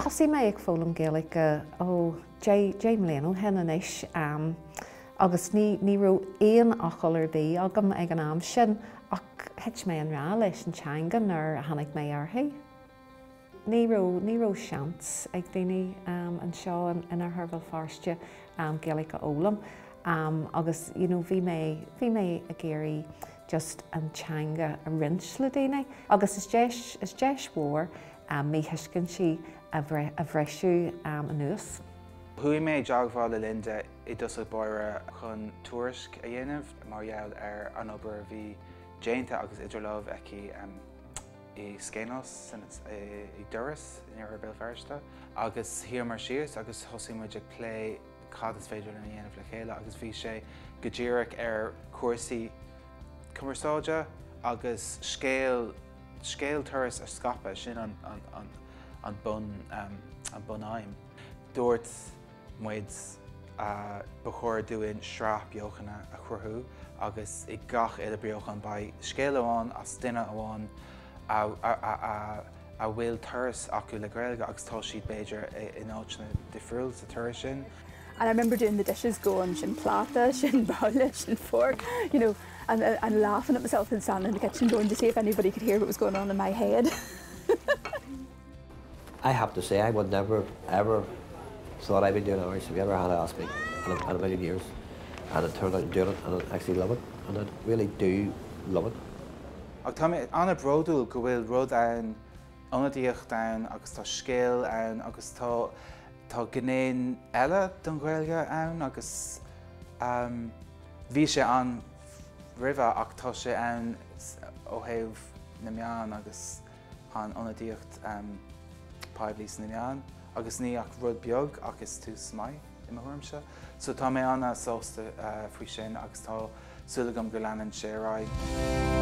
Thosaigh mé ag foghlaim Gaeilge ó deich mbliana ó shin anois agus ní raibh aon fhocal ar bith agam ag an am sin ach thit mé i ngrá leis an teanga nuair a tháinig mé uirthi. ní raibh, ní raibh seans ag daoine anseo in Oirthear Bhéal Feirste Gaeilge a fhoghlaim agus you know bhí mé, bhí mé ag iarraidh just an teanga a roinnt le daoine agus is deis, is deis mhór míthuiscintí a bhriseadh anuas. Chuaigh mé i dteagmháil le Linda i dtosach báire chun tuairisc a dhéanamh mar gheall ar an obair a bhí déanta agus idir lámh aici. i Skainos, i dTuras, in Oirthear Bhéal Feirste, agus shuigh muid síos agus thosaigh muid ag plé cad is féidir linn a dhéanamh le chéile agus bhí sé go díreach ar chúrsaí cumarsáide agus scéal, scéal Turas a scaipeadh, sin an an an an bun, an bun aidhm. Dúirt. muid, ba chóir dúinn sraith beochan a chruthú agus i gach uile beochan beidh scéal amháin as duine amháin a bhfuil turas acu le Gaeilge agus tá siad b'fhéidir in áiteanna difriúil sa turas sin. and I remember doing the dishes going sin pláta, sin babhla, sin fork you know and and laughing at myself and standing in the kitchen going see if anybody could hear what was going on in my head. I have to say I would never, ever thought I'd be doing Irish if you ever had asked me in a, in a million years and it turned out I'm doing it and I actually love it and I really do love it. Ach tá mé an-bhródúil go bhfuil rud ann, ionadaíocht ann agus tá scéal ann agus tá, tá gné eile don Ghaeilge ann agus ehm bhí sé ann roimhe ach tá sé ann ó thaobh na meán agus, an ionadaíocht phoiblí sna meáin agus níl ach rud beag ach is tús maith, i mo thuairimse. So tá mé an-sásta faoi sin agus tá súil agam go leanann sé ar aghaidh.